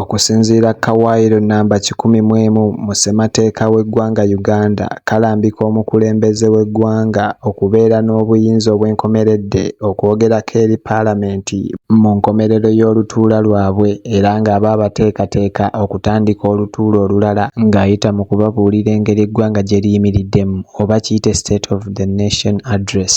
Okusinziira ku kawaayiro nnamba kikumi mu emu mu ssemateeka w'eggwanga Uganda kalambika omukulembeze w'eggwanga okubeera n'obuyinza obwenkomeredde okwogerako eri palamenti mu nkomerero y'olutuula lwabwe era ng'aba abateekateeka okutandika olutuula olulala ng'ayita mu kubabuulira engeri eggwanga gye liyimiriddemu oba kiyite State of the Nation Address.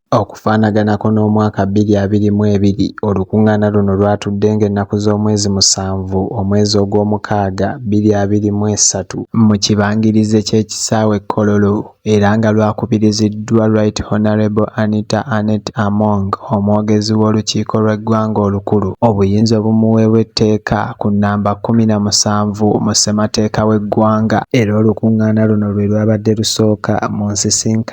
Okufaanaganako n'omwaka bbiri abiri mu ebiri, olukuŋŋaana luno lwatuddenga ennaku z'omwezi musanvu, omwezi ogw'omukaaga bbiri abiri mu esatu, mu kibangirize ky'ekisaawe e Kololo era nga lwakubiriziddwa Right Honourable Anita Annet Among, omwogezi w'olukiiko lw'eggwanga olukulu, obuyinza obumuweebwa etteeka ku nnamba kkumi na musanvu mu ssemateeka w'eggwanga. Era olukuŋŋaana luno lwe lwabadde lusooka mu nsisinkano.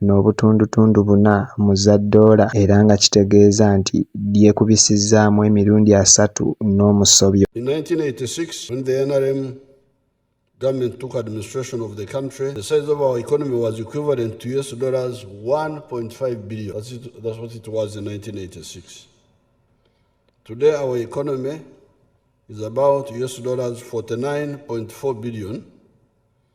n'obutundutundu buna mu za ddoola era nga kitegeeza nti lyekubisizzaamu emirundi asatu n'omusobyo. In 1986 when the nrm government took administration of the country, the size of our economy was equivalent to US dollars 1.5 billion. That's, it, that's what it was in 1986. Today our economy is about US dollars 49.4 billion.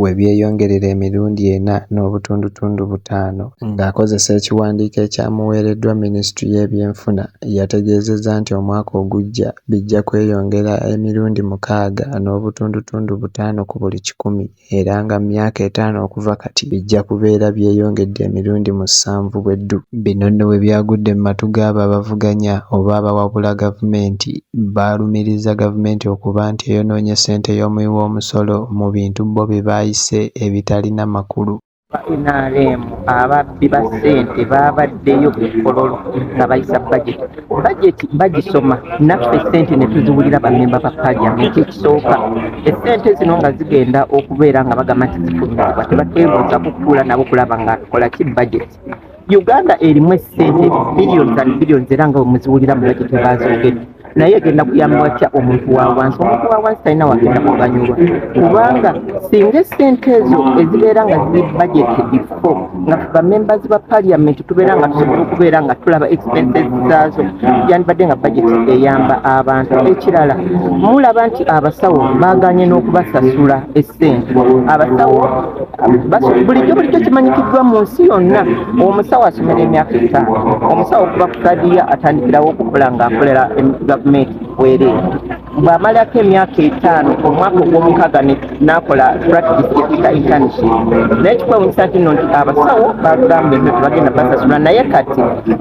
we byeyongerera emirundi ena n'obutundutundu butaano. Ng'akozesa ekiwandiiko ekyamuweereddwa minisitule y'ebyenfuna yategeezezza nti omwaka ogujja bijja kweyongera emirundi mukaaga n'obutundutundu butaano ku buli kikumi era nga mu myaka etaano okuva kati bijja kubeera byeyongedde emirundi musanvu bwe ddu. Bino nno bwe byagudde mu matu g'abo abavuganya oba abawabula gavumenti Baalumirizza Gavumenti okuba nti eyonoonye ssente y'omuwi w'omusolo mu bintu bbo bye baayise ebitalina makulu. Aba nrm ababbi ba ssente baabaddeyo ku mukolo nga bayisa bajeti. Bajeti bagisoma naffe ssente ne tuziwulira bammemba ba Paaliamenti. Ekisooka essente zino nga zigenda okubeera nga bagamba nti zifulumizibwa tebatwebuuzako kutuula nabo kulaba nga tukola ki bajeti. uganda erimu esente billions and billions era nga wemuziwulira mu bajeti bazoogedde naye egenda kuyamba watya omuntu wa wansi omuntu wa wansi talina wagenda kuganyulwa kubanga singa esente ezo ezibeera nga ziri bajeti bifo nga bamembers ba parliament tubeera nga tusobola okubeera nga tulaba expenses zaazo yandibadde nga bajeti eyamba abantu ekirala mulaba nti abasawo baganye n'okubasasula esente abasawo bulijjo bulijjo kimanyikiddwa mu nsi yonna omusawo asomera emyaka etaano omusawo okuva ku kadiya atandikirawo okukola ng'akolera gavumenti bwereere bw'amalako emyaka etaano omwaka ogw'omukaaga n'akola practice ekika internship naye kikwewunyisa nti no nti abasawo bagamba ebyo tebagenda basasula naye kati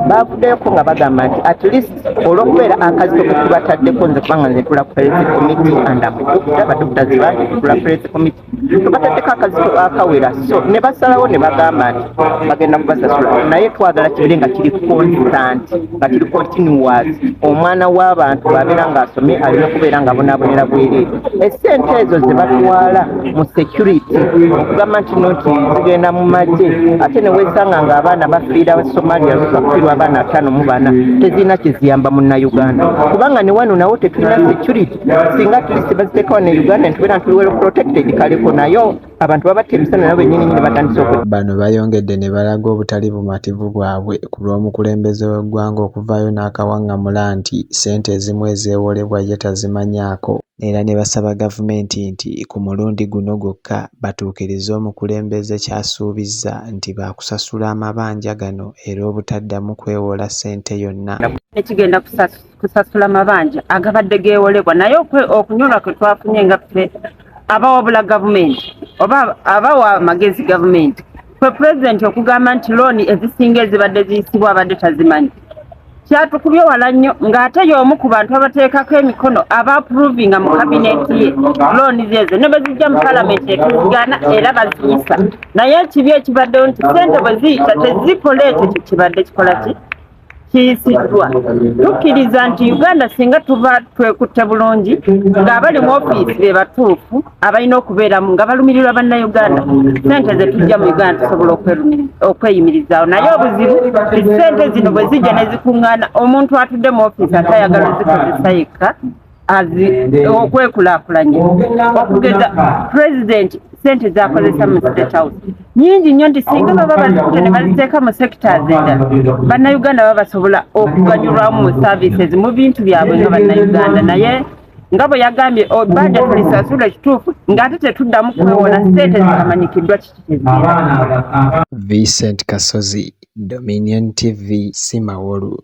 bavuddeyoko nga bagamba nti at least olw'okubeera akazito ke tubataddeko nze kubanga nze ntula ku health committee and am doctor badokita zibange ntula ku health committee tubataddeko akazito akawera so ne basalawo ne bagamba nti bagenda kubasasula naye twagala kibeere nga kiri constant nga kiri continuous omwana w'abantu bwabeera ng'asomye alina okubeera nga bonaabonera bwereere esente ezo ze batwala mu security okugamba nti no nti zigenda mu magye ate ne weesanga ng'abaana bafiira somalia bafiirwa abaana ataano mu bana tezirina kiziyamba munnayuganda kubanga ne wano nawo tetulina security singa tulisi baziteekawo ne uganda ntubeera ntuli well protected kaleko nayo abantu babatta emisana nabo bennyini nyini batandise oku bano bayongedde ne balaga obutali bumativu bwabwe ku lw'omukulembeze w'eggwanga okuvaayo n'akawaŋŋamula nti ssente ezimu ezeewolebwa ye tazimanyaako era ne basaba gavumenti nti ku mulundi guno gwokka batuukirize omukulembeze ky'asuubizza nti baakusasula amabanja gano era obutaddamu kwewola ssente yonna. kusasula mabanja agabadde geewolebwa naye okunyolwa kwe twafunye nga ffe abawabula gavumenti oba abawa amagezi gavumenti kwe pulezidenti okugamba nti looni ezisinga ezibadde ziyisibwa abadde tazimanyi kyatukubye wala nnyo ng'ate y'omu ku bantu abateekako emikono abaapuruvinga mu kabineeti ye looni zeezo ne bazijja mu palamenti etuzigaana era baziyisa naye ekibi ekibaddewo nti sente bwe ziyita tezikola ekyo kye kibadde kikola ki kiyisiddwa tukkiriza nti uganda singa tuba twekutte bulungi ng'abali mu ofiisi be batuufu abalina okubeeramu nga balumirirwa bannauganda sente ze tujja mu uganda tusobola okweyimirizaawo naye obuzibu sente zino bwe zijja ne zikuŋŋaana omuntu atudde mu ofiisi atayagala zikozesa yekka okwekulakulanya okugeza pulezidenti sente zakozesa mu state house nyingi nnyo nti singa baba bazikuta ne baziteeka mu sectors endala bannayuganda baba basobola okuganyulwamu mu services mu bintu byabwe nga bannayuganda naye nga bwe yagambye oh, banja tulisasula ekituufu ng'ate tetuddamu kwewola sente zitamanyikiddwa kiki kyeziira vincent kasozi dominion tv simawolu